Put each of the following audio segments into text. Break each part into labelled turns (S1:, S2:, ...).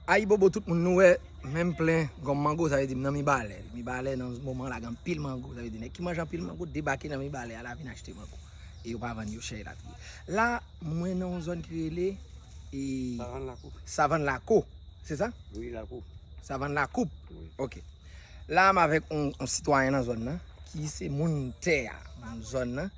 S1: Ayibobo tout moun nou wè menm plen gòm mango sa vle di m nan mibalè mibalè nan moman la gen anpil mango sa vle di nèg ki manje anpil mango debake nan mibalè a la vin achte mango e yo pa vann yo chè elatriye la mwen nan yon zòn ki rele savann lakou se sa
S2: savann lakou
S1: ok la m avèk yon sitwayen nan zòn nan ki se moun tè a moun zòn nan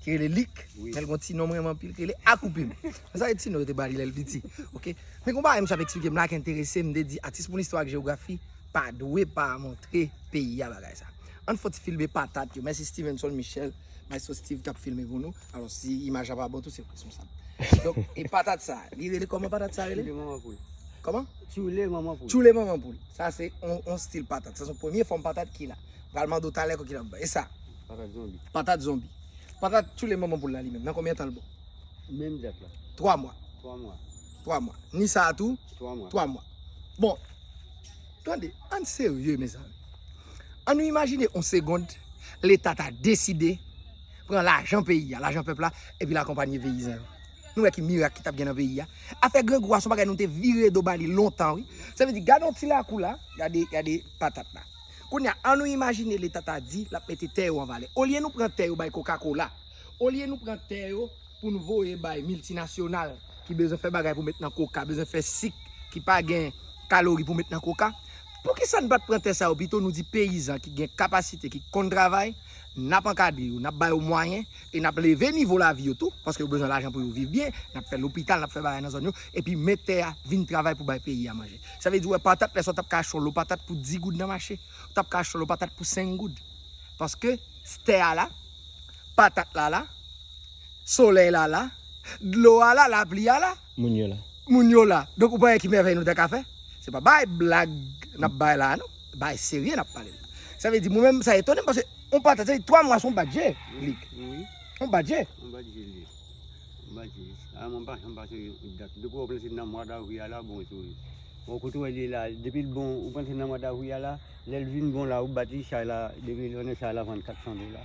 S1: ki rele Lik, men l gen yon ti non m renmen anpil ki rele Akoupim. Mwen salye ti non yo te ba li lè l piti. Ok, men gon bagay m ap eksplike m la ki enterese m, m te di atis pou listwa ak jewografi pa dwe pa montre peyi a bagay sa. An n fè yon ti filme patat yo. Mèsi Stevenson Michel, Maestro Steve k ap filme pou nou. Alò si imaj la pa bon tou se responsab. Donk, e patat sa, li rele kòman patat sa rele? Tchoule manman poul. Kòman? Tchoule manman
S2: poul. Tchoule manman poul. Sa se
S1: yon stil patat. Sa se yon premye fòm patat ki la. M pral mande w talè ki lòt bagay. E sa? Patat zonbi.
S2: Patat zonbi.
S1: Patat tchoule manman poul la li menm. Nan konbyen tan l bon? Menm
S2: dat la. 3 mwa. 3
S1: mwa.
S2: 3 mwa. Ni
S1: sa a tou? 3 mwa. 3 mwa.
S2: Bon.
S1: Tande, an n serye mezanmi. An nou imajine yon segond leta ta deside pran lajan peyi a, lajan pèp la epi l akonpanye peyizan yo. Nou wè ki mirak ki t ap gen nan peyi a. Afè grangou a se yon bagay nou te vire do ba li lontan wi. Sa vle di gade yon ti lakou la, gade patat la. Kounye a, annou imajine Leta ta di l ap mete tè yo an valè. Olye nou pran tè yo bay kokakola, olye nou pran tè yo pou n voye bay miltinasyonal ki bezwen fè bagay pou met nan koka, bezwen fè sik ki pa gen kalori pou met nan koka, poukisa n pa t pran tè sa yo pito nou di peyizan ki gen kapasite, ki konn travay, n ap ankadre yo, n ap ba yo mwayen e n ap leve nivo lavi yo tou, paske yo bezwen lajan pou yo viv byen, n ap fè lopital, n ap fè bagay nan zòn yo, epi mèt tè a vin travay pou bay peyi a manje. Sa vle di ou wè patat lè sa ou t ap ka achte yon lo patat pou 10 goud nan mache, ou t ap ka achte yon lo patat pou 5 goud. Paske tè a la, patat la la, solèy la la, dlo a la, lapli a la. moun yo la. Moun yo la. Donk ou pa wè ki mèvèy nou ta ka fè? Se pa bay blag n ap bay la a non. Bagay serye n ap pale la. Sa vle di mwen menm sa etone m paske yon patat sa vle di twa mwa se yon bat je li. Wi.
S2: Yon bat je.
S1: Yon bat je li ye.
S2: Yon bat je. A mwen m pa janm pase dat. Depi w wè w panse se nan mwa davril a la bon sou li. Bon kote w wè l ye la a, depi l bon ou panse se nan mwa davril a la, lè l vin bon la a ou bat li chay la depi l vin bon chay la vann 400 dola.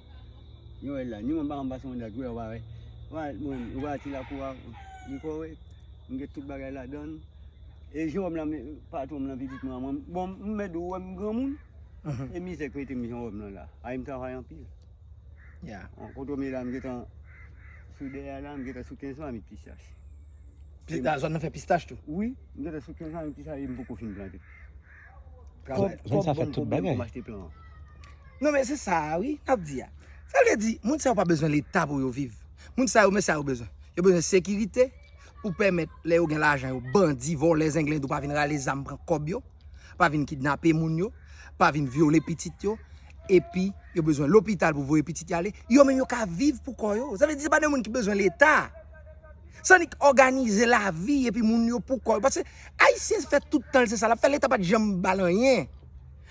S2: Noël la, ni mwen pa konn pase yon dat wè ou pa wè. Wal mwen, ou pa wè ti lakou a, li kore, m gen tout bagay ladann. E Jewòm la men patwon m lan pitit mwen an mwen, bon m mèt di w wè m granmoun, e mizè k mete m Jewòm lan la. Ay m travay anpil. Ya.
S1: An Kotomi la m
S2: gentan sou dèyè a la, m gentan sou 15 mamit pistach. Pi
S1: nan zòn nan fè pistach tou? Wi, m gentan sou 15
S2: mamit pistach e m poko fin plante. Travay,
S3: jèn sa fè tout bagay.
S1: Non men se sa a wi, nap di a. Sa vle di, moun sa yo pa bezwen leta pou yo viv. Moun sa yo men sa yo bezwen. Yo bezwen sekirite, pou pèmèt lè yo gen lajan yo, bandi, vòlè, zenglendo pa vin rale zam pran kòb yo, pa vin kidnape moun yo, pa vin vyole pitit yo, epi yo bezwen lopital pou voye pitit yo ale, yo menm yo ka viv pou kò yo. Sa vle di se pa de moun ki bezwen leta. San li k òganize lavi epi moun yo pou kò yo. Pase Ayisyen fè tout tan l se sa l ap fè. Leta pa t janm ba l anyen.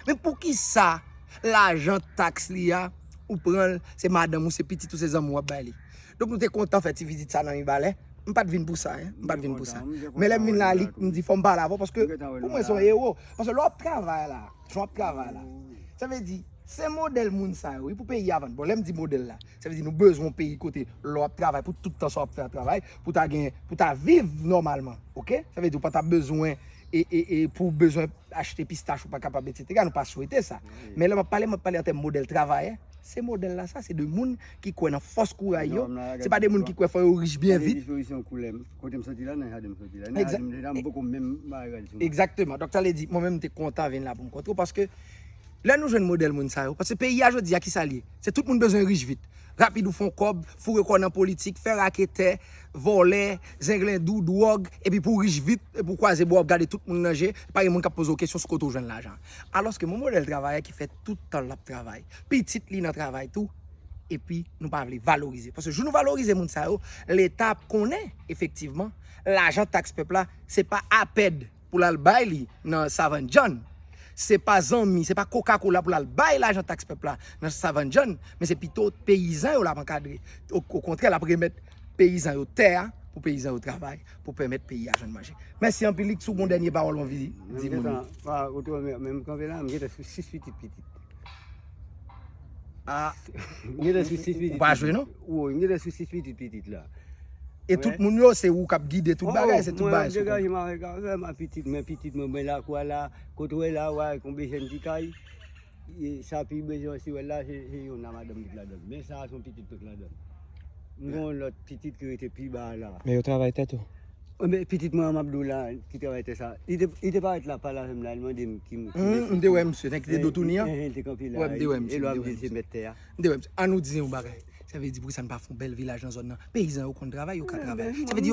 S1: Men poukisa lajan taks li a, ou pran l, se madanm ou, se pitit ou, se zanmi w ap bay li? Donk nou te kontan fè ti vizit sa nan Mibalè. M pa t vin pou sa. M pa t vin pou sa. Men lè m vin la, li m di fò m pale avè w paske pou mwen se yon ewo. Paske lè w ap travay la, jan w ap travay la, sa vle di se modèl moun sa yo wi pou peyi a vann. Bon lè m di modèl la. Sa vle di nou bezwen yon peyi kote lè w ap travay pou tout tan sa w ap fè a travay pou ta gen pou ta viv nòmalman ok sa vle di ou pa ta bezwen e e e pou w bezwen achte pistach ou pa kapab etsetera nou pa swete sa men lè m ap pale m ap pale an tèm modèl travayè se modèl la sa se de moun ki kwè nan fòs kouray yo se pa de moun ki kwè fò yo rich byen vit egzakteman donk sa vle di mwen menm m te kontan vin la pou m kontre w paske Lè nou jwenn modèl moun sa yo, paske peyi a jodi a ki sa l ye? Se tout moun bezwen rich vit, rapid ou fè yon kòb, foure kò w nan politik, fè raketè, vòlè, zenglendou, dwòg, epi pou w rich vit, epi w kwaze bra w ap gade tout moun nan je, pa gen moun k ap poze w kesyon sou kote w jwenn lajan an. Alòske yon modèl travayè ki fè tout tan l ap travay, pitit li nan travay tou, epi nou pa vle valorize. Paske jou nou valorize moun sa yo, Leta ap konnen efektivman lajan taks pèp la se pa apèd. pou l al bay li nan Savann Jàn. Se pa zanmi, se pa koka kola pou l al bay lajan taks pèp la nan Savann Jàn, men se pito peyizan yo l ap ankadre. Okontrè, l ap remèt peyizan yo tè a pou peyizan yo travay pou pèmèt peyi a jwenn manje. Mèsi anpil. Lik, si w gen yon dènye pawòl w anvi di moun yo. Mwen gentan, pa, ou te wè
S2: m menm kanpe la, m gentan sou 6 pitit pitit.
S1: Ah, ou gen lè sou 6
S2: pitit. Ou pa jwe non. Ou gen
S1: lè sou 6
S2: pitit pitit la. E tout moun
S1: yo se ou kap gide tout bagay, se tout bagay. Mwen degaje ma vek avè ma
S2: pitit, men pitit mwen mwen lakou a la, kote wè la wè kon bejèn ti kay. E sa pi bejèn si wè la, se yon nan madanm ki la dèm. Men sa a son pitit tout la dèm. Mwen lòt pitit ki rete pi ba la. Men yo travay tèt ou.
S3: Ebyen pitit
S2: mwen an map diw la ki travay tè sa, li te li te parèt la pale avèm la li mandem ki mesye ki Humm m te wè misye
S1: nèg ki te do touni an, li te kanpe la, e
S2: lè wap dil se
S1: mèt tè a.
S2: M te wè misye, an nou di
S1: yon bagay, sa vle di poukisa n pa fon bèl vilaj nan zòn nan, peyizan yo konn travay yo ka travay, sa vle di yo.